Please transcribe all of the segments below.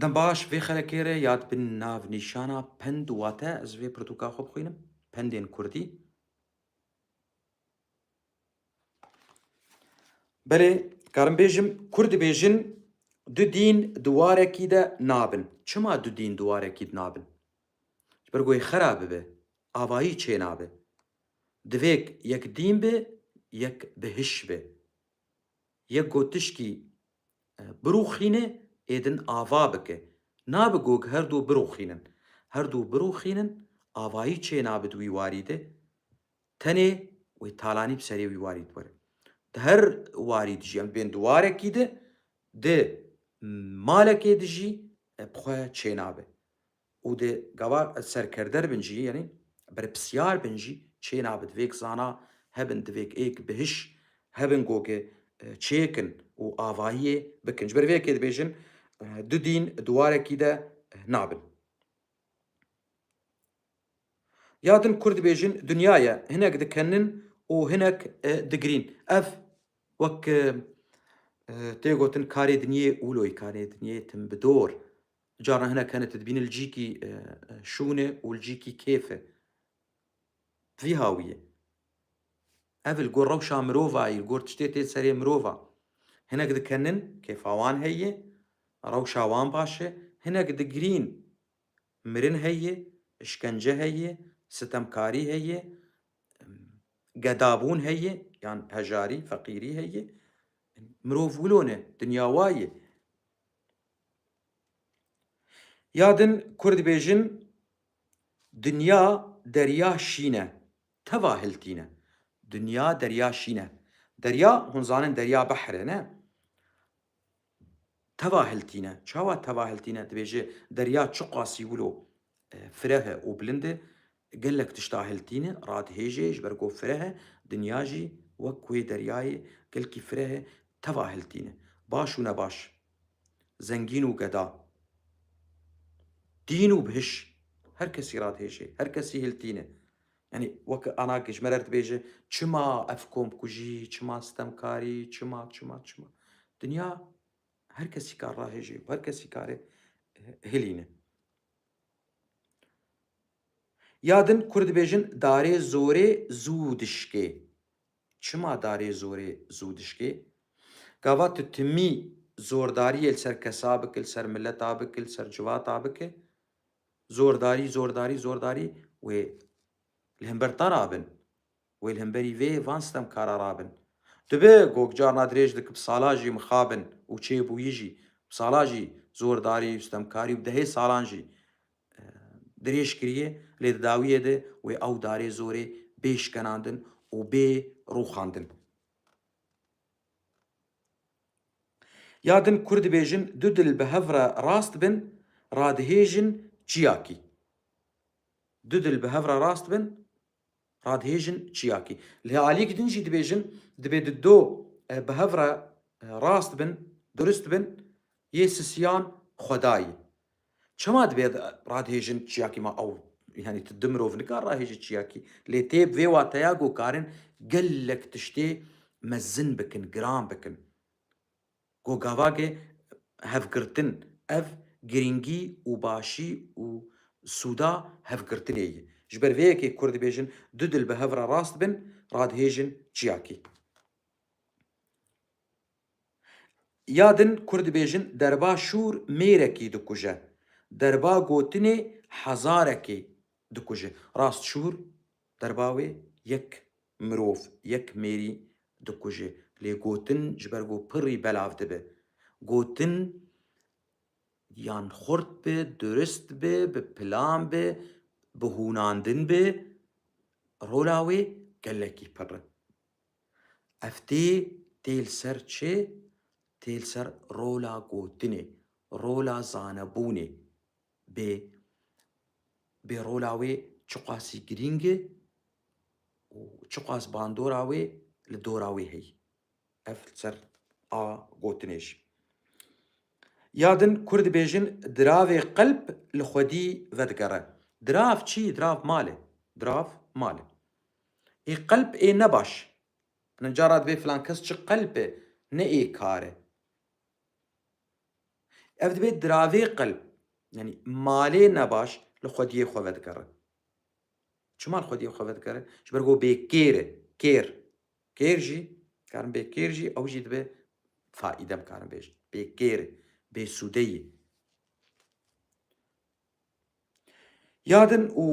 Dem baş, vê xerekê re ya dibin nav nîşana pend wate ez vê pirtûka xwe bixwînim, Pendên Kurdî. Belê dikarim bêjim, Kurd dibêjin du dîn di warekî de nabin. Çima du dîn di warekî de nabin? Ji ber ku wê xera bibe, avayî çênabe. Divêk yek dîn be, yek bihiş be. Yek got tişkî birûxîne ê din ava bike. Nabe gog her du birûxînin. Her du birûxînin avayî çê nabe di wî warî de. Tenê wê talanî bi serê wî warî diwere. Di her warî dijî em dibên di warekî de, di malekê dijî bi xwe çê nabe. Û di gava serkerder bin jî yanî berpisyar bin jî çê nabe divêk zana hebin divêk êk bihiş hebin goge çêkin û avahiyê bikin. Ji ber vê yekê dibêjin du dîn di warekî de nabin. Ya din Kurd dibêjin dinya ye hinek dikenin û hinek digirîn. Ev wek tê gotin karê dinyê ûloyî, karê dinyê tim bi dor. Caran hinek hene tu dibînî li cîkî şûnê û li cîkî kêfê. Bi vî hawiyê. Ev li gor rewşa mirovayî, li gor tiştê tê serê mirova. Hinek dikenin, kêfa wan heye, rewşa wan baş e, hinek digirîn. Mirin heye, işkence heye, sitemkarî heye, gedabûn heye, yan hejarî, feqîrî heye. Mirov wilo ne, dinya wa ye. Ya din kur dibêjin Dinya derya şîn e, teva hiltîn e. Dinya derya şîn e. Derya, hûn zanin derya behr e ne? Teva hiltîn e. Çawa teva hiltîn e? Dibêje derya çiqasî wilo Fireh e û bilind e. Gelek tişta hil tîne, radihêje, ji ber ku fireh e, dinya jî wek wê deryayê gelkî fireh e, teva hil tîne. Baş û nebaş, zengîn û geda, dîn û bihiş, her kesî radihêje, her kesî hil tîne. Yanî wek Ana Gijmerer dibêje, çima ev komkujî, çima sitemkarî, çima, çima, çima. Dinya her kesî kar rahêje û her kesî kare hilîne. Ya din Kurd dibêjin darê zorê zû dişkê. Çima darê zorê zû dişkê? Gava tu timî zordariyê li ser kesa bikî, li ser mileta bikî, li ser civata bikî, zordarî, zordarî, zordarî wê li himber te re bin. Wê li hemberî vê van sitemkara rabin. Tu bi ku carna dirêj dikib sala jî mixabin û çêbûyî jî bi sala jî zordarî û sitemkarî û bi dehê salan jî dirêj kirîyê lê di dawiyê de wê ew darê zorê bê şkenandin û bê rûxandin. Ya din Kurd dibêjin du dil bi hev re rast bin radihêjin çiyakî. Du dil bi hev re rast bin Radihêjin çiyakî. Lê aliyek din jî dibêjin dibê di do bi hev re rast bin, durist bin, yê sisiyan xwedayî. Çima dibê radihêjin çiyakî ma ew yanî tu du mirov nikar rahêjî çiyakî. Lê tê bi vê wateya ku karin gelek tiştê mezin bikin, giran bikin. Ku gavagê hevgirtin ev girîngî û başî û sûda hevgirtinê ye. Ji ber vê yekê kurd dibêjin du dil bi hev re rast bin, radihêjin çiyakî. Ya din kurd dibêjin derba şûr mêrekî dikuje, derba gotinê hezarekî dikuje. Rast şûr Derba wê yek mirov, yek mêrî dikuje. Lê gotin ji ber ku pirrî belav dibe. Gotin yan xurt be, durist be, bi plan be, bi hûnandin be, rola wê gelekî pirr e. Ev tê, tê li ser çi? Tê li ser rola gotinê, rola zanebûnê. Bê bê rola wê çiqasî girîng e û çiqas bandora wê li dora wê heye. Ev li ser a gotinê jî ya din Kurd dibêjin diravê qelb li xwedî vedigere. Dirav çi ye? Dirav mal e. Dirav mal e. Ê qelb ê ne baş. Cara divê filan kes çi qelb e ne ê kar e. Ev dibe diravê qil, yanî malê nebaş li xwediyê xwe vedigere. Çima li xwediyê xwe vedigere? Ji ber ku bê kêr e, kêr. Kêr jî, karin bê kêr jî ew jî dibe faîde em karin bêjin. Bê kêr e, bêsûde ye. Ya din û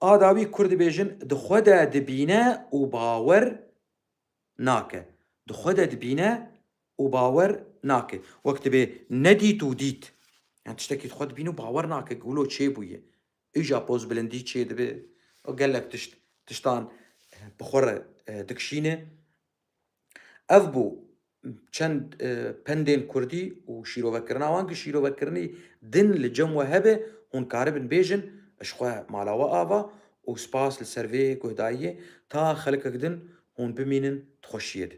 a dawî Kurd dibêjin di xwe de dibîne û bawer nake, di xwe de dibîne û bawer nake. Wek dibe nedît û dît. Yan tiştekî di xwe dibîne û bawer nake ku wilo çê bûye. Îja pozbilindî çê dibe û gelek tişt, tiştan bi xwe re dikişîne. Ev bû çend pendên kurdî û şîrovekirina wan ku şîrovekirinî din li cem we hebe, hûn karibin bêjin, ji xwe mala we ava û spas li ser vê guhdayiyê ta xelkek din hûn bimînin di xweşiyê de.